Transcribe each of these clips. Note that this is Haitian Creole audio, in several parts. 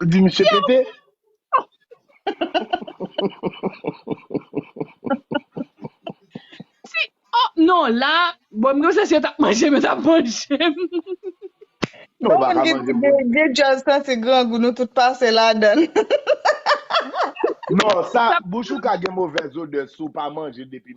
Ou di misye pete? Si, oh non la, bon m gnose si yo tap manjem yo tap manjem. Non ou Bon moun paka ki di manjem pou vye dyòl santi grangou nou tout pase ladann. Non sa Sa bouch ou ka gen movèz odè si w pa manje depi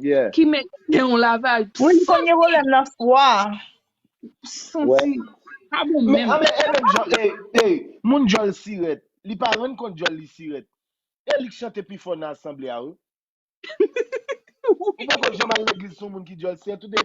Yeah. Ki men gen yon laval Wi li konn gen santi pwoblèm nan fwa. Wè. santi pa bon Men menm. anmè e menm jan e e moun djòl sirèt li pa rann kont djòl li sirèt e li k chante pi fò nan asanble a wi. Ou poko janm al legliz sou moun ki djòl sirèt ou de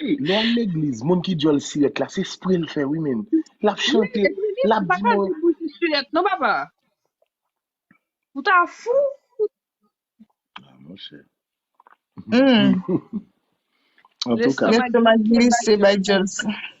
Lè w al legliz, moun ki dyòl sirèt la, se spre l fè wi menn. L ap chante, l ap di mwen. Mwen pa ka di bouch li sirèt non papa. Ou ta fou. Ah monchè. Lestomak glise bay dyòl sirèt.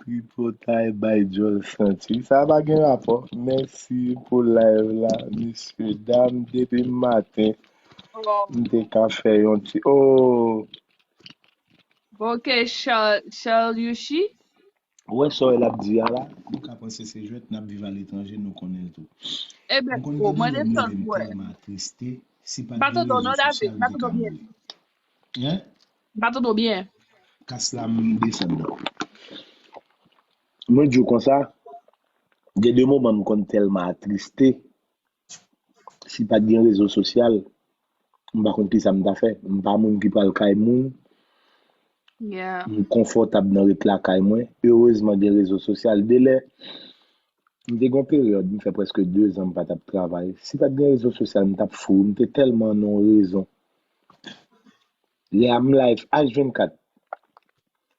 Tripotay bay djòl santi. Sa pa gen rapò. Mèsi pou live la mesye dam depi maten m te ka fè yon ti ooh. Bon ke charlucci. Ou wè sa lap di a la nou ka panse se jwèt nap viv a letranje nou konnen l tou. Mwen konn gen de lè m leve m tèlman atriste si pat gen rezo sosyal m te ka mouri. Hein? M pa tande w byen. Kas la m desann nan. Mwen di w konsa, gen de moman m konn tèlman atriste, si pat gen rezo sosyal, m pa konn kisa m ta fè. M pa moun ki pral kay moun. Yeah. M konfòtab nan ret lakay mwen. Erezman gen rezo sosyal. Delè, m te gen yon peryòd, m fè prèske dezan m pa t ap travay. Si pat gen rezo sosyal, m t ap fou. M te tèlman nan yon rezon. Lè a m live H24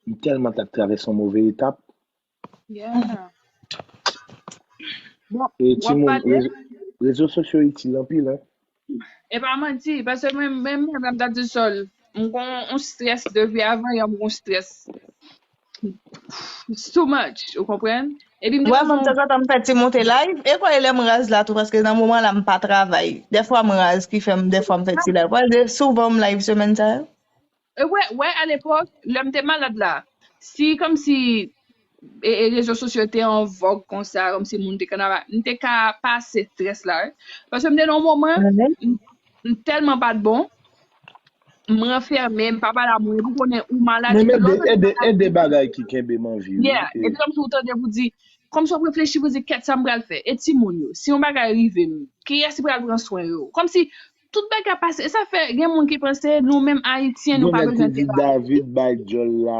m tèlman tap travèse yon move etap. E timoun rezo sosyo itil anpil wi. E pa manti paske menm mwen menm lè m tap di sol m gon yon strès depi avan yè m gon strès. It's too much, ou konprann? Epi m te Mwen menm bezwen tanzantan m fè ti moute live, e kwè lè m raz la tou paske nan moman la m pa travay. Dèfwa m raz ki fè m dèfwa m fè ti live. Wè de souvan m live semèn sa yo. E wè, wè a lepòk, lè m te malad la, si kòmsi e e rezo sosyo te an vòg konsa, kòmsi moun te konn ap a, m te ka pase strès la wi. Paske m te nan yon moman, m m tèlman pa t bon, M ranfème, m pa pale a moun, epi w konnen ou malad, Men epi lè w tande mede, bagay mede konsa, bagay ki kenbe m an vi wi. yeah, E. epi kòmsi w tande pou di, kòmsi w ap reflechi pou di kèt sa m pral fè? E timoun yo? Si yon bagay rive m, kiyès ki pral pran swen yo? Kòmsi tout bagay ap pase, e sa fè gen moun ki panse nou menm Ayisyen nou Gen pa nèg ki bezwen di travay. David bay djòl la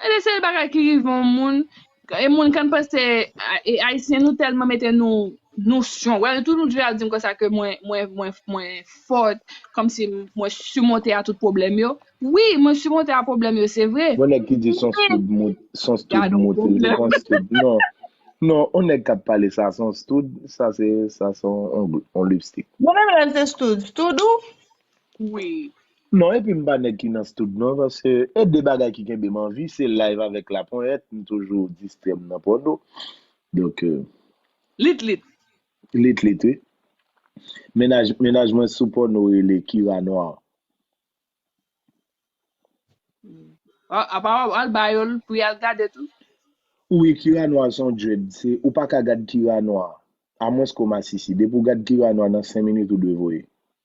Sa de se bagay ki rive yon moun e moun kan panse e ayisyen nou tèlman mete nou nou strong wè tou nou toujou ap dim konsa ke mwen mwen mwen mwen fort kòmsi mwen simonte a tout pwoblèm yo wi mwen simonte a pwoblèm yo se vre Bon nèg ki di son stud mout son stud mout li te kon stud non non on nèg kap pale sa son stud sa se sa son on lipstik. Mwen menm lèm se stud stud ou ui. Non epi m pa nèg ki nan stoud non paske e de bagay ki kenbe m anvi se live avèk la ponyèt m toujou distrè m nan pòdo donk Lit lit. Lit lit wi. Mennaj mennaj mwen sou pòno rele Kira Noir. Ah apa wap al ba yo l pou yal gade tou? Ui Kira Noir son dread se ou paka gad Kira Noir amwens ke w masisi depi w gad Kira Noir nan 5 minit ou dwe voye.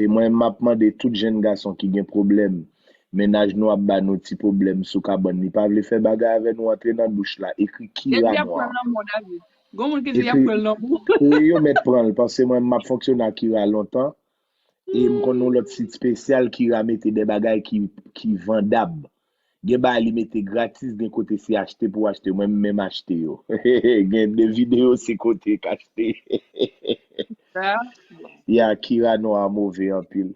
E mwen map mande tout jenn gason ki gen pwoblèm mennaj nou ap ba nou ti pwoblèm sou kabann li pa vle fè bagay avè nou antre nan douch la ekri kira nwa ekri wi yo mèt pranl pase mwen map fonksyone ak kira lontan e m konn yon lòt sit spesyal kira mete de bagay ki vandab Gen bagay li mete gratis gen kote se achte pou achte mwen m menm achte yo gen de video se kote k achte ya kira non a move anpil.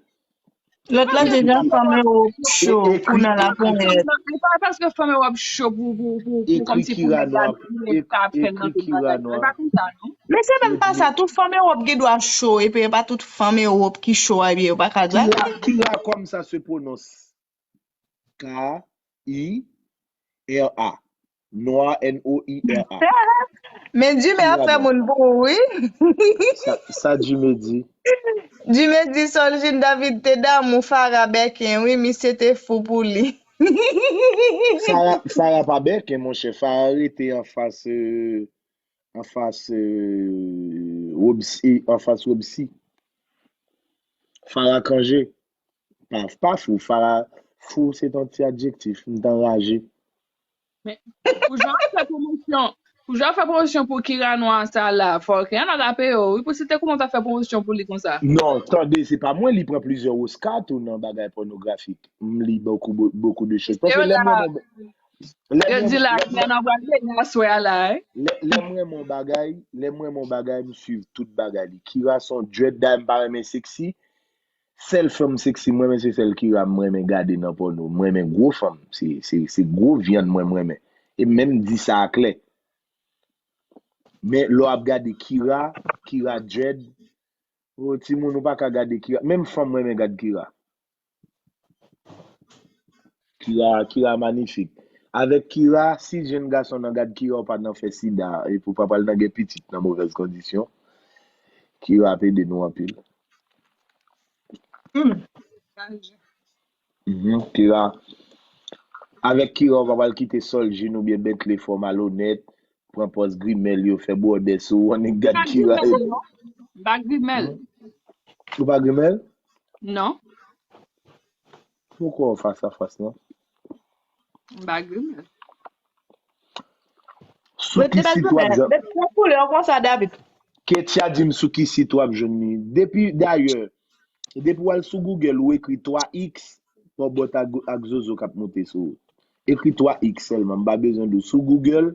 Lòt la deja fanm Europe cho pou nan la ponyèt. Li pa paske fanm Europe cho pou pou kòmsi pou nèg la di li pa ap fèl nan tout bagay non e pa konsa non. Men se menm pa sa tout fanm Europe gen dwa cho epi e pa tout fanm Europe ki cho a ebyen yo pa ka gratis. Kira kòmsa se pwononse K-I-R-A. Noir, N-O-I-R-A. Men Dume ap fè moun pou ou wi. Sa Dume di? Dume di Soljine David te damou Farah Bèken wi, misye te fou pou li. Farah pa Bèken monchè, Farah rete anfas Robsy. Farah Cangé. Paf pa fou, fara fou se ton ti adjektif, m t anraje. Men Poujwa ap fè pwomosyon Poujwa ap fè pwomosyon pou Kira nwa sa la fò Rihanna rape yo wi pou se te kouman w ta fè pwomosyon pou li konsa. Non tande se pa mwen li pran plizyè Oscar tou nan bagay pònografik m li bokou bokou de choz paske lèm renmen yon lèm Yo di la Rihanna pral vini aswè a la wi. Lèm renmen yon bagay lèm renmen yon bagay m swiv tout bagay li Kira son dread dayè m pa renmen sexy Sèl fanm sexy m renmen se sèl Kira m renmen gade nan pòno m renmen gwo fanm se gwo vyann mwen m renmen e m menm di sa a klè men lè w ap gade Kira Kira dread oh timoun ou pa ka gade Kira menm fanm renmen gad Kira. Kira kira manifik. Avèk kira si jenn gason nan gad kira ou pa nan fè sida epi ou pa pral nan gen pitit nan movèz kondisyon kira ap ede nou anpil. Humm Dandy. Humm kira Avèk kira ou pa pral kite soljin oubyen bentley fè w malonèt pran pòz grimèl yo fè bwòdè sou ou annik gad kira epi. Mwen pa grimèl non. Mwen pa grimèl? Ou pa grimèl? Non. Fou kò fas a fas non. M pa grimè. Sou ki sit wap jwenn. Met pran koulè w konsa David. Ketya dim sou ki sit wap jwenn li. Depi dayè depi wal sou Google ou ekri 3 X Pòbòt ak Zozo kap moute sou ou. Ekri 3 X sèlman m pa bezwen di w sou Google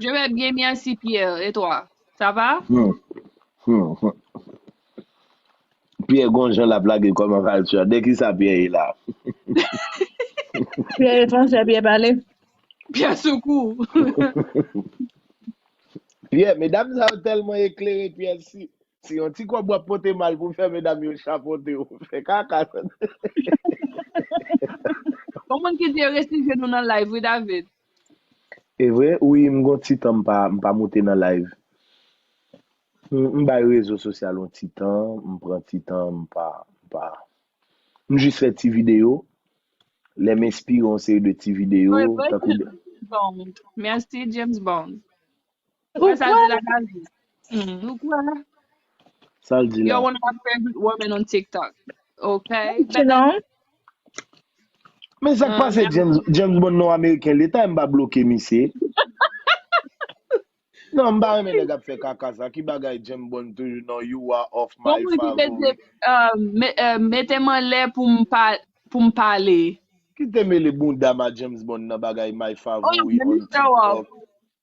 Je vais bien merci Pierre et toi ça va? Hum, hum, hum. Pierre gon jan lap lage kòman valchè. De ki sa Pierre ye la? Pierre français Pierre pale. Pierre sou kou. Pierre, medam sa yo tèlman eklere Pierre si. Se yon ti kob wap pote mal pou fè medam yo chapote w. Fè kaka tande. Yon moun ki te resi jwenn nou nan live wi David. Evre ui m gon ti tan m pa moute nan live m bay rezo sosyal yon ti tan m pran ti tan m pa m pa m jis fè ti video lè m enspire yon seri de ti video tankou de. Merci James Bond. Ou Sa kwè? di la nan di. Hmm, ou kwè? Sa l di Yo la. one of my favorite women on TikTok. Ok. Thank you, Bella. non. Men sa k Ah, pase merde. James, James Bond non ameriken leta m pa bloke misye. Non m pa renmen nèg ap fè kaka sa ki bagay James Bond toujou non you are of Bon my moun ki mete favorite. euh, me, euh, mete m an lè pou m pa pou m pale. Ki te mele bounda ma James Bond nan bagay my Oh, favorite let me on show off. TikTok.